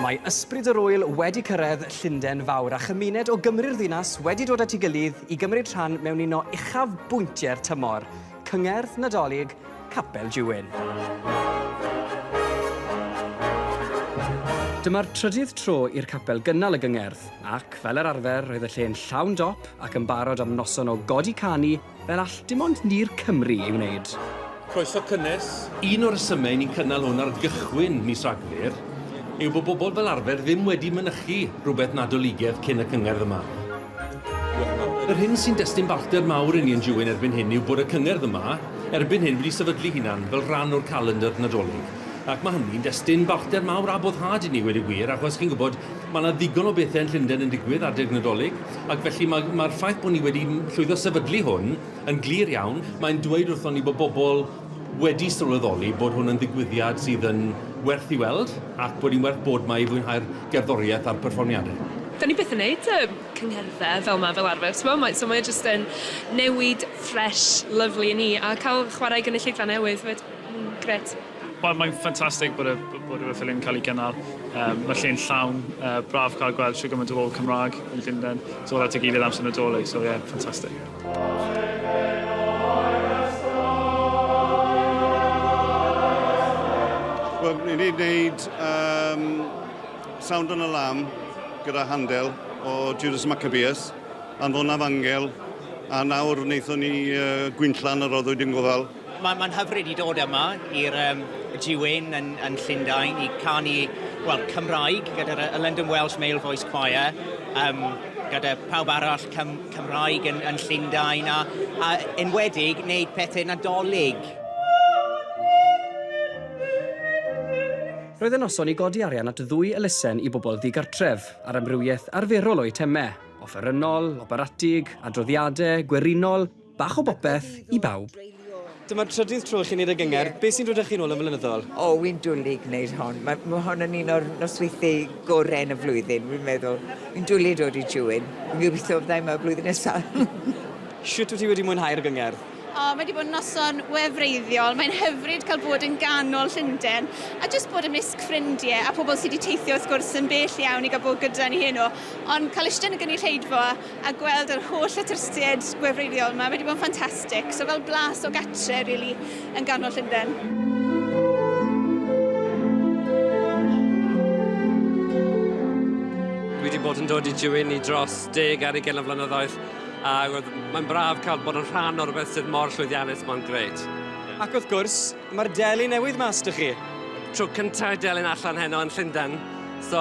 Mae Ysbryd yr Ŵyl wedi cyrraedd Llundain Fawr a chymuned o Gymru'r ddinas wedi dod at ei gilydd i gymryd rhan mewn un o uchaf bwyntiau'r tymor, Cyngerdd Nadolig Capel Juwyn. Dyma'r trydydd tro i'r capel gynnal y gyngerdd, ac, fel yr arfer, roedd y lle'n llawn dop ac yn barod am noson o godi canu, Fel all dim ond ni'r Cymry ei wneud. Croeso cynnes. Un o'r rhesymau ni'n cynnal hwn ar gychwyn mis Rhagfyr yw bod bobl fel arfer ddim wedi mynychu rhywbeth Nadoligedd cyn y cyngerdd yma. Yr hyn sy'n destun balchder mawr i ni yn Jewin erbyn hyn yw bod y cyngerdd yma erbyn hyn wedi sefydlu hunan fel rhan o'r calendr Nadolig ac mae hynny'n destun balchder mawr a boddhad i ni wedi gwir achos chi'n gwybod Mae yna ddigon o bethau yn Llundain yn digwydd adeg Nadolig, ac felly mae, mae'r ffaith bod ni wedi llwyddo sefydlu hwn yn glir iawn. Mae'n dweud wrthon ni bod bobl wedi sylweddoli bod hwn yn ddigwyddiad sydd yn werth i weld ac bod hi'n werth bod 'ma i fwynhau'r gerddoriaeth a'r perfformiadau. Dan ni byth yn neud yy cyngherddau fel 'ma fel arfer t'mo, mae, so mae o jyst yn newid ffresh, lyfli i ni, a cael chwarae gynulleidfa newydd 'fyd, mm, grêt. Wel, mae'n ffantastig bod y, bod y ffilm yn cael ei gynnal. Um, mae lle'n llawn, uh, braf cael gweld siw gymaint o bobl Cymraeg yn Llundain. So at y gilydd amser nadolig, so ie, yeah, ffantastig. Wel, ni wedi gwneud um, Sound on a Lamb gyda Handel o Judas Maccabeus, Anfonaf Angel, a nawr wnaethon ni uh, Gwynllan yr Roddwyd yn Gofal, Mae'n mae hyfryd i dod yma i'r um, Diwyn yn, yn Llundain i canu well, Cymraeg gyda'r uh, London Welsh Male Voice Choir, um, gyda pawb arall Cym Cymraeg yn, yn Llundain a, a enwedig wneud pethau nadolig. Roedd y noson i godi arian at ddwy elusen i bobl ddigartref, ar amrywiaeth arferol o eitemau, offerynnol, operatig, adroddiadau, gwerinol, Bach o bopeth i bawb. Dyma'r trydydd tro i chi wneud y gyngerdd. Beth sy'n dod â chi'n ôl yn flynyddol? O, wi'n dwlu gwneud hon. Mae, mae hon yn un o'r nosweithiau gorau yn y flwyddyn, wi'n meddwl. Wi'n dwlu dod i Jewin. Fi'n gobeithio fydda i yma blwyddyn nesaf. Sut wyt ti wedi mwynhau'r gyngerdd? O, mae wedi bod yn noson wefreiddiol. Mae'n hyfryd cael bod yn ganol Llundain a jyst bod ymysg ffrindiau a pobl sydd wedi teithio wrth gwrs yn bell iawn i gael bod gyda ni heno. Ond cael ishte yn y gynulleidfa a gweld yr holl atrystied gwefreiddiol yma, mae wedi bod yn ffantastig. So fel blas o gatre, really, yn ganol Llundain. bod yn dod i Jywyn i dros deg ar ei gen o flynyddoedd. A mae'n braf cael bod yn rhan o'r beth sydd mor llwyddiannus, mae'n greit. Ac wrth gwrs, mae'r deli newydd mas dych chi. Tro cyntaf delyn allan heno yn Llundain. So,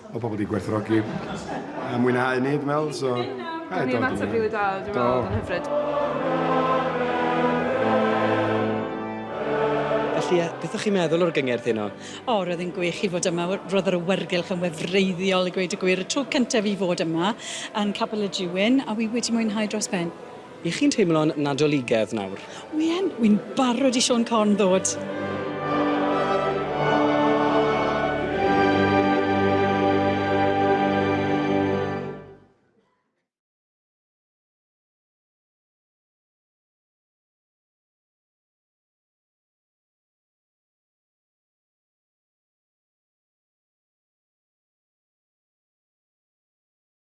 o pobl 'di gwerthfawrogi a mwynhau hynny dwi'n meddwl so... Gawn ni ymateb rili da dwi'n meddwl oedd yn hyfryd. Felly yy beth o'ch chi'n meddwl o'r gyngerdd heno? O roedd e'n gwych i fod yma w- roedd yr awyrgylch yn wefreiddiol i gweud y gwir y tro cyntaf i fod yma yn Capel y Júin a wi wedi mwynhau dros ben. Y'ch chi'n teimlo'n Nadoligedd nawr? Wi yn! Wi'n barod i Siôn Corn ddod!